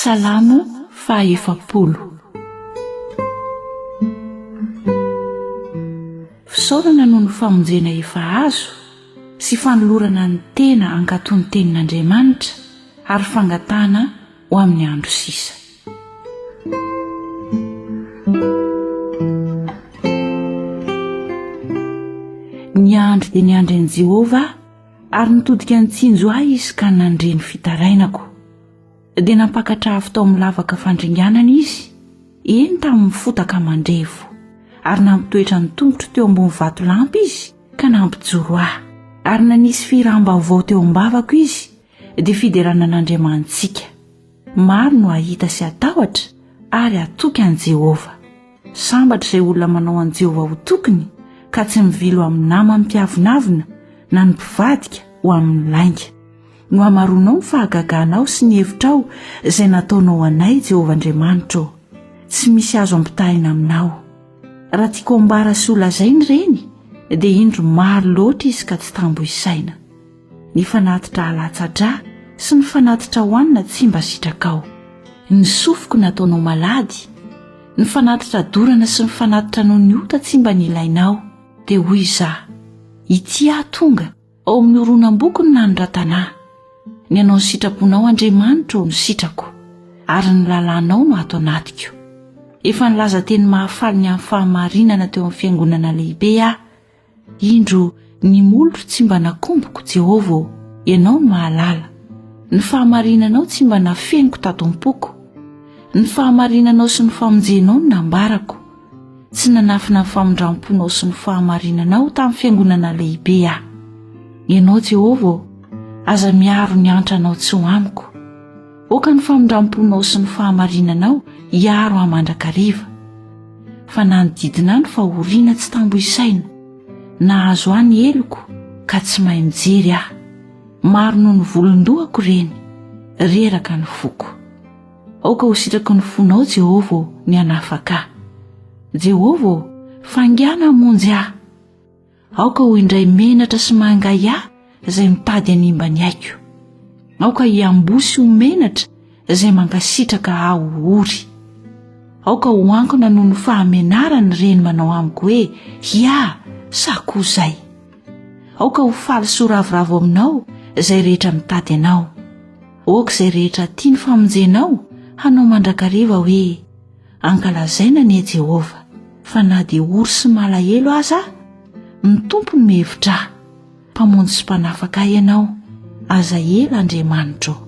Salamo faha efapolo. Fisaorana noho ny famonjena efa azo sy fanolorana ny tena hankatò ny tenin'Andriamanitra ary fangatahana ho amin'ny andro sisa. Niandry dia niandry an'i Jehovah aho, ary nitodika nitsinjo ahy izy ka nandre ny fitarainako. Dia nampakatra afo tao amin'ny lavaka fandringanana izy, eny tamin'ny fotaka mandrevo, ary nampitoetra ny tongotro teo ambony vatolampy izy ka nampijoro ahy, ary nanisy fihiràm-baovao teo am-bavako izy, dia fiderana an'Andriamanitsika. Maro no hahita sy hatahotra ary hatoky an'i Jehovah. Sambatra izay olona manao an'i Jehovah ho tokiny, ka tsy mivilo amin'ny namany mpiavonavona na ny mpivadika ho amin'ny lainga. no hamaroanao ny fahagaganao sy ny hevitrao izay nataonao anay jehovah andriamanitra ô tsy misy azo ampitahina aminao raha tiako ambara sy holazai ny reny dia indro maro loatra izy ka tsy tambo isaina ny fanatitra alatsatra sy ny fanatitra hohanina tsy mba sitrakao ny sofiko nataonao malady ny fanatitra dorana sy ny fanatitra noho ny ota tsy mba nilainao dia hoy izaho itia tonga Ao amin'ny horonam-boko no nanoratana ahy. Ny anao ny sitraponao Andriamanitro no sitrako ary ny lalànao no ato anatiko. Efa nilaza teny mahafaly ny amin'ny fahamarinana teo amin'ny fiangonana lehibe aho. Indro ny molotro tsy mba nakomboko, Jehovah ô, ianao no mahalala. Ny fahamarinanao tsy mba nafeniko tato am-poko. Ny fahamarinanao sy ny famonjenao no nambarako. Tsy nanafina ny famindram-ponao sy ny fahamarinanao tamin'ny fiangonana lehibe aho. Ianao Jehovah ô, aza miaro ny antranao tsy ho amiko. Aoka ny famindram-ponao sy ny fahamarinanao hiaro ahy mandrakariva. Fa nanodidina ahy ny fahoriana tsy tambo isaina. Nahazo ahy ny heloko ka tsy mahay mijery aho. Maro noho ny volon-dohako ireny. Reraka ny foko. Aoka ho sitraky ny fonao, Jehovah ô, ny hanafaka ahy. Jehovah ô, faingàna hamonjy ahy. Aoka ho indray menatra sy mangahy ahy izay mitady hanimba ny aiko. Aoka hiamboho sy ho menatra izay mankasitraka ahy ho ory. Aoka ho ankona noho ny fahamenarany ireny manao amiko hoe hiaha sa koa izay. Aoka ho faly sy ho ravoravo aminao izay rehetra mitady anao. Aoka izay rehetra tia ny famonjenao hanao mandrakariva hoe, Ankalazaina anie Jehovah, fa na dia ory sy malahelo aza aho, ny Tompo no mihevitra ahy. Mpamonjy sy Mpanafaka ahy Ianao. Aza ela Andriamanitro ô!